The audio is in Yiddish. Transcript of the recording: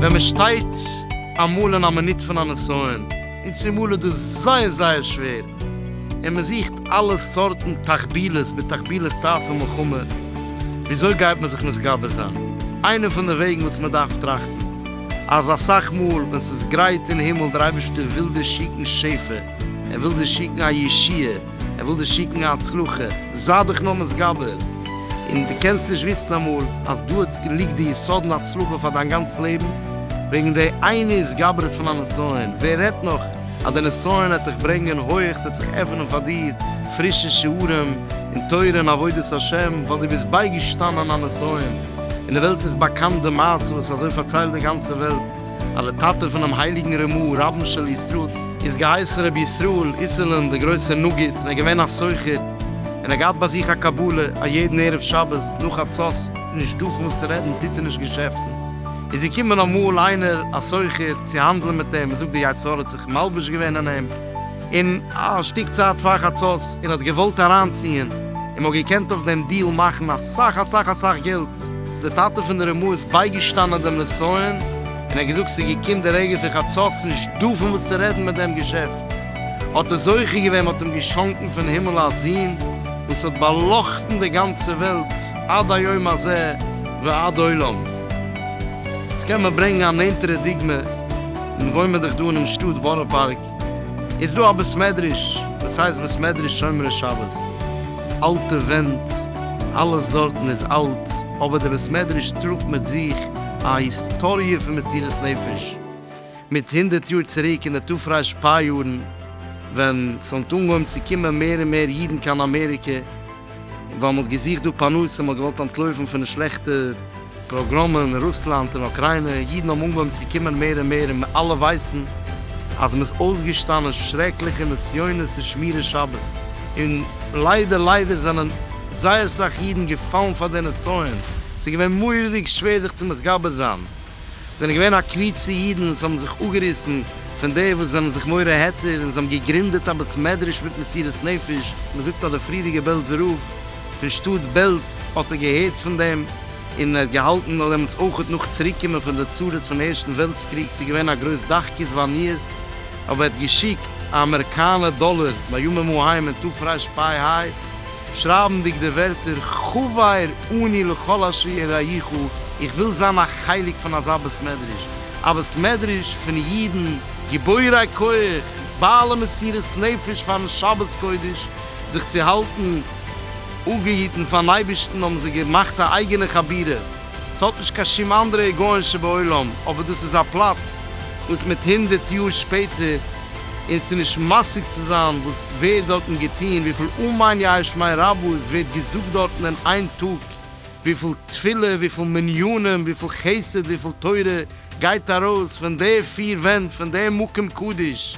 ווען מען שטייט אמאל אין א מינוט פון א נסיון, און צומאל איז דאס זייער זייער שווער, און מען זוכט אלע סארטן תחבילות בתחבילות תעשה מלחמה, וויאזוי גייט מען זיך מתגבר זיין? איינע פון די וועגן וואס מען דארף טראכטן, אז אסאך מאל ווען ס'איז גרייט אין הימל, דער אייבערשטער וויל דיר שיקן שפע, ער וויל דיר שיקן א ישועה, ער וויל דיר שיקן א הצלחה, זיי דיך נאר מתגבר, און דו קענסט נישט וויסן אמאל אז דארט ליגט די יסוד'ן הצלחה פאר דיין גאנץ לעבן, וועגן די איינע התגברות פון א נסיון, ווער רעדט נאך אז די נסיון וועט דיך ברענגען הויעך, ס'וועט זיך עפענען פאר דיר פרישע שערים אין תורה און עבודת השם, ווייל דו ביסט בייגעשטאנען א נסיון. אין די וועלט איז באקאנט די מעשה וואס אזוי פארציילט די גאנצע וועלט אז די טאטע פונעם הייליגן רמ א רבן של ישראל איז געהייסן רבי ישראל איסרלען דער גרויסער נגיד און ער איז געווען א סוחר און ער האט געהאט ביי זיך א קבלה אז יעדן ערב שבת נאך חצות נישט דארפן וואס צו רעדן טוט ער נישט געשעפטן איז געקומען אמאל איינער א סוחר צו האנדלען מיט אים און זאגט דער יצר האט זיך מלבש געווען אין אים. און א שטיק צייט פאר חצות און האט געוואלט אריינציען און מ'האט געקענט אויף דעם דיעל מאכן אסאך אסאך אסאך געלט. די טאטע פון די רמא איז בייגעשטאנען דעם נסיון און האט געזאגט ס'איז געקומט די רגע פון חצות נישט דא פון וואס צו רעדן מיט דעם געשעפט האט ער זוכה געווען מ'האט אים געשאנקן פון הימל א זון וואס האט באלאכטן די גאנצע וועלט עד היום הזה ועד עולם. יעצט קען מען ברענגן א נענטערע דוגמא. און וואוינמען זיך דא אינעם שטאט בארא פארק איז דא א בית מדרש וואס הייסט בית מדרש שומרי שבת, אלטע ווענט, אלעס דארטן איז אלט, אבער די בית מדרש טראגט מיט זיך א היסטאריע פון מסירת נפש מיט הונדערט יאר צוריק אין די תרפ ש יארן ווען ס'האט אנגעהויבן צו קומען מער און מער אידן קיין אמעריקע, ווייל מ'האט געזוכט דא פרנסה, מ'האט געוואלט אנטלויפן פון די שלעכטע פראגראמען אין רוסלאנד און אוקריינע, אידן האבן אנגעהויבן צו קומען מער און מער, און מיר אלע ווייסן אז מ'איז אויסגעשטאנען שרעקליכע נסיונות פון שמירת שבת, און ליידער ליידער זענען זייער סאך אידן געפאלן פאר די נסיון, ס'איז געווען מורא'דיג שווער זיך צו מתגבר זיין. זענען געווען א קבוצה אידן וואס האבן זיך אפגעריסן פון די וואס זענען זיך מורה היתר און זיי האבן געגרינדעט א בית מדרש מיט מסירות נפש, מען זאגט אז דער פריערדיגער בעלזער רב פון שטאט בעלז האט ער געהערט פון דעם און ער האט געהאלטן נאך דעמאלטס אויך נאך צוריק קומען פון די צרות פון ערשטן וועלטס קריג ס'איז געווען א גרויס דחקות ועניות אבער ער האט געשיקט א אמעריקאנער דאלער בימים ההם און תרפ ר פ ה. שרייבנדיג די ווערטער חבר אני לכל אשר יראיך איך וויל זיין א חלק פון אזא בית מדרש, א בית מדרש פון אידן גיבורי כח, בעלי מסירות נפש פארן שבת קודש, זיך צו האלטן אפגעהיטן פארן אייבערשטן האבן זיי געמאכט א אייגענע חבירה, ס'האט נישט קיין שום אנדערע היגיון שבעולם, אבער דאס איז א פלאץ וואס מיט הונדערט יאר שפעטער, און ס'איז נישט משיג צו זיין וואס ווערט דארטן געטון, וויפיל אמן יש מאין רבות ווערט געזאגט דארטן אין איין טאג, וויפיל תפילה, וויפיל מניינים, וויפיל חסד, וויפיל תורה גייט ארויס פון די פיר ווענט פון דעם מקום קדוש,